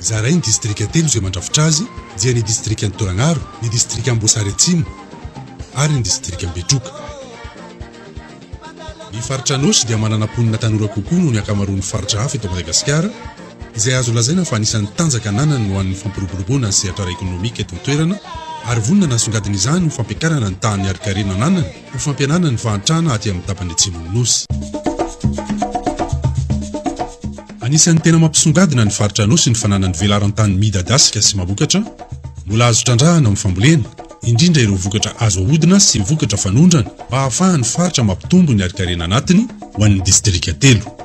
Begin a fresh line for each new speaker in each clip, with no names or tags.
Zarain'ny distrika telo izay mandrafitra azy dia ny distrikan'i Tolagnaro, ny distrikan'Amboasary Atsimo ary ny distrikan'i Betroka. Ny faritra Anôsy dia manana mponina tanora kokoa noho ny ankamaroan'ny faritra hafa eto Madagasikara, izay azo lazaina fa anisan'ny tanjaka ananany ho an'ny fampiroboroboana ny sehatra ara-ekonomika eto an-toerana ary vonona nasongadina izany ho fampiakarana ny tahan'ny harin-karena ananany Ho fampihenana ny fahantrana aty amin'ny tapany atsimon'ny Nosy. Anisan'ny tena mampisongadina ny faritra Anosy ny fananany velaran-tany midadasika sy mamokatra, mbola azo trandrahana amin'ny fambolena, indrindra ireo vokatra azo ahodina sy vokatra fanondrana mba hahafahan'ny faritra mampitombo ny harinkarena anatiny ho an'ny distrika telo.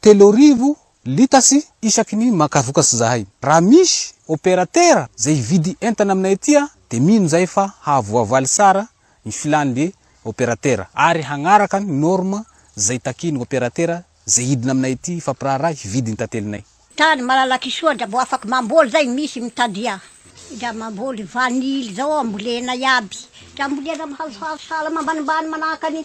Telo arivo litres isaky ny maka vokatra zahay. Raha misy opérateur zay hividy entana aminay aty de mino zahay fa hahavoavaly tsara ny filany le opérateur ary hagnaraka ny norme zay takian ny opérateur zay hidina aminay aty hifampiraharaha hividy ny tantelinay. Tany Malalakisoa
ndra mbo afaky mamboly zay misy mitadia. Ndra mamboly vanille zao ambolena iaby. Ndra ambolena am hazohazo sahala mambanimbany manahaka ny.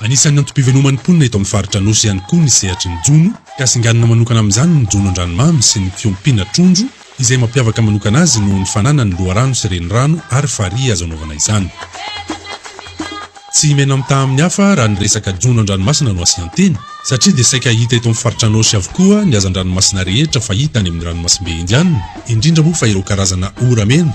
Anisan'ny antom-piveloman'ny mponina eto amin'ny faritra Anosy ihany koa ny sehatry ny jono, ka singanina manokana amin'izany ny jono an-dranomamy sy ny fiompiana trondro, izay mampiavaka manokana azy noho ny fananany loharano sy renirano ary farihy azo anaovana izany. Tsy mena-mitaha amin'ny hafa raha ny resaka jono an-dranomasina no asian-teny, satria dia saika hita eto amin'ny faritra Anosy avokoa ny hazan-dranomasina rehetra fahita any amin'ny ranomasimbe Indianina, indrindra moa fa ireo karazana ora mena.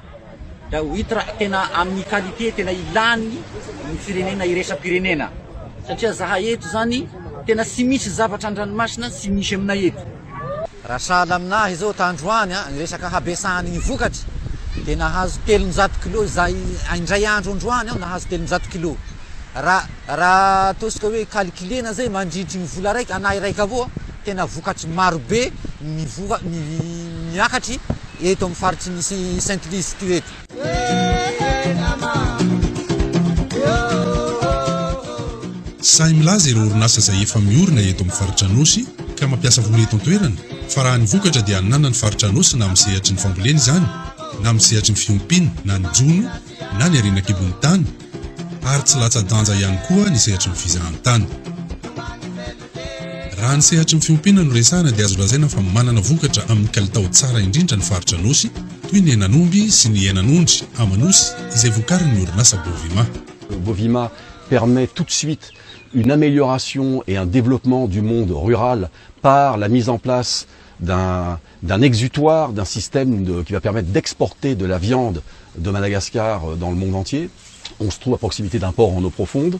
Dia ho hita raha tena amin'ny qualité tena ilàny ny firenena iraisam-pirenena. Satria zahay eto izany tena tsy misy zavatra an-dranomasina tsy misy aminay eto. Raha sahala
aminah izao tandroany ny resaka habesahan'ny vokatra dia nahazo telonjato kilos izahay indray andro androany nahazo telonjato kilos. Raha raha ataontsika hoe calculena izay mandritry ny vola raika, anah iraika avao, tena vokatry marobe mivoka, miakatry Eto amin'ny faritry ny Sainte Luce ity eto.
Sahy milaza ireo orinasa izay efa miorina eto amin'ny faritra Anôsy ka mampiasa vola eto an-toerana fa raha ny vokatra dia hananana ny faritra Anôsy na amin'ny sehatry ny fambolena izany na amin'ny sehatry ny fiompiana na ny jono na ny harena an-kibon'ny tany ary tsy latsa-danja ihany koa ny sehatry ny fizahantany. Raha ny sehatry ny fiompiana no resahana dia azo lazaina fa manana vokatra amin'ny kalitao tsara indrindra ny faritra Anosy toy ny henan'omby sy ny henan'ondry Amanosy izay vokarin'ny orinasa Bovima. Bovima
permet tout de suite une amélioration et un développement du monde rural par la mise en place d'un d'un exutoire, d'un système qui va permettre d'exporter de la viande de Madagascar dans le monde entier. On se trouve à proximité d'un port en eau profonde.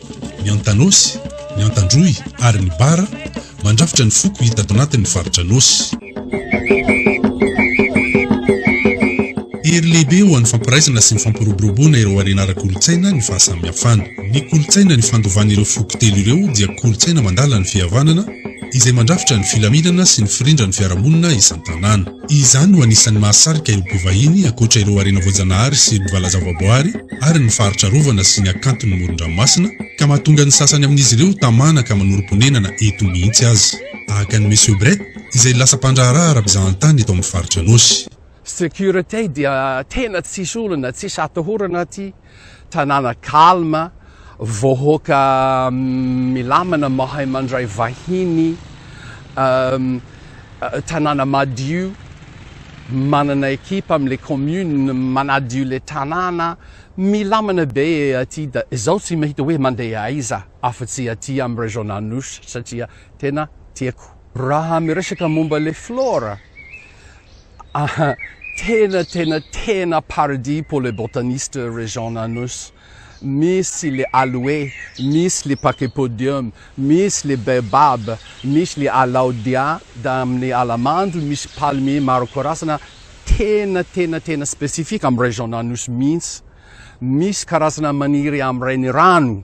ny Antanosy, ny Antandroy ary ny Bara mandrafitra ny foko hita ato anatin' ny faritra Anosy. Hery lehibe ho an'ny fampiraisana sy ny fampiroboroboana ireo harena ara-kolontsaina ny fahasamihafana. Ny kolontsaina nifandovan'ireo foko telo ireo dia kolontsaina mandala ny fihavanana izay mandrafitra ny filaminana sy ny firindran'ny fiarahamonina isan-tanàna. Izany no anisan'ny mahasarika ireo mpivahiny, ankoatra ireo harena voajanahary sy mpivalaza-voaboary ary ny faritra arovana sy ny hakanton'ny moron-dranomasina, ka mahatonga ny sasany amin'izy ireo tamana ka manorim-ponenana eto mihitsy aza. Tahaka an'i Monsieur Brett, izay lasa mpandraharaha ara-pizahantany eto amin'ny faritra Anôsy. Security
dia tena tsisy olana, tsisy atahorana aty. Tanàna calme, vaohoaka milamina mahay mandray vahiny, tanàna madio, manana equipe am le commune manadio le tanàna, milamina be aty da zaho tsy mahita hoe mandeha aiza afa tsy aty am région Anosy satria tena tiako. Raha miresaka momba le flore. Aha, tena tena tena paradis pour les botanistes région Anos, misy le aloe, misy le pachypodium, misy le baobab, misy le alaudia, da amin'ny ala mando misy palmier maro karazana tena tena tena spécifique am région Anosy mihitsy, misy karazana maniry am renirano.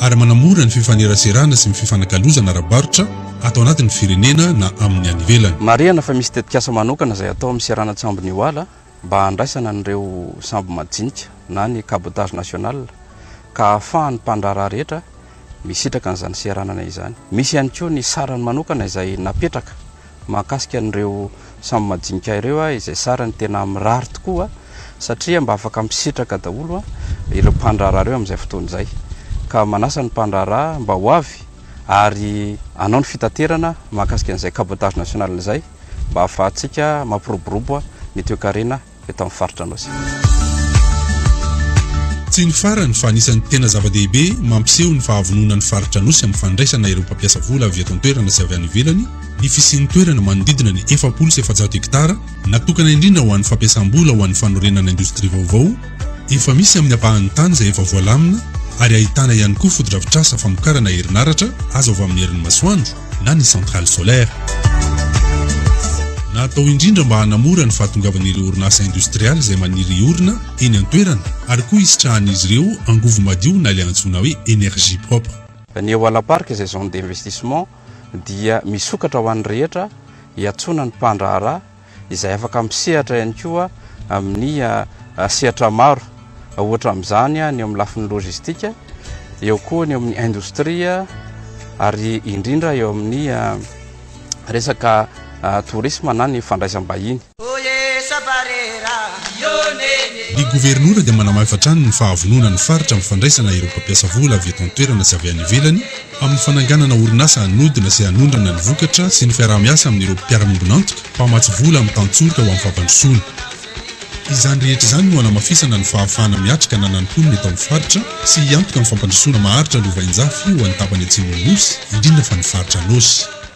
ary manamora ny fifaneraserana sy ny fifanakalozana ara-barotra ato anatin'ny firenena na amin'ny any ivelany. Marihana fa misy tetikasa
manokana izay atao amin'ny seranan-tsambo New Hala mba handraisana an'ireo sambo majinika na ny cabotage national ka ahafahan'ny mpandraharaha rehetra misitraka an'izany seranana izany. Misy ihany koa ny sarany manokana izay napetraka Mahakasika an'ireo samy majinika ireo a, izay sarany tena mirary tokoa a, satria mba afaka misitraka daholo a, ireo mpandraharaha ireo amin'izay fotoana izay. Ka manasa ny mpandraharaha mba ho avy ary hanao ny fitaterana mahakasika an'izay cabotage national izay, mba ahafahantsika mampiroborobo a, ny toekarena. eto amin'ny faritra Anosibe.
Tsy ny farany fa anisan'ny tena zava-dehibe mampiseho ny fahavonona ny faritra Anosy amin'ny fandraisana ireo mpampiasa vola avy eto an-toerana sy avy any ivelany ny fisian'ny toerana manodidina ny efapolo sy efajato hektara natokana indrindra ho an'ny fampiasam-bola ho an'ny fanorenana indostria vaovao efa misy amin'ny ampahan'ny tany izay efa voalamina ary ahitana ihany koa fotodrafitrasa famokarana herinaratra azo avy amin'ny herin'ny masoandro. na ny centrale solaire. Natao indrindra mba hanamora ny fahatongavan'ireo orinasa indostrialy izay maniry hiorina eny an-toerana ary koa hisitrahan'izy ireo angovo madio na ilay antsoina hoe energie propre. Ny Eoala Park
izay zone d'investissement dia misokatra ho an'ny rehetra hiantsoana ny mpandraharaha, izay afaka misehatra ihany koa amin'ny sehatra maro, ohatra amin'izany ny eo amin'ny lafiny lojistika, eo koa ny eo amin'ny indostria ary indrindra eo amin'ny resaka torisma na ny fandraisam-bahiny.
Ny Governora dia manamafy hatrany ny fahavononan'ny Faritra amin'ny fandraisana ireo mpampiasa vola avy eto an-toerana sy avy any ivelany, amin'ny fananganana orinasa hanodina sy hanondrana ny vokatra sy ny fiaraha-miasa amin'ireo mpiara-miombon'antoka mpamatsy vola mitantsoroka ho amin'ny fampandrosoana. Izany rehetra izany no hanamafisana ny fahafahana miatrika ananan'ny mponina eto amin'ny faritra sy hiantoka amin'ny fampandrosoana maharitra lovainjafy ho an'ny tapany atsimon'ny Nosy, indrindra fa ny faritra Anôsy.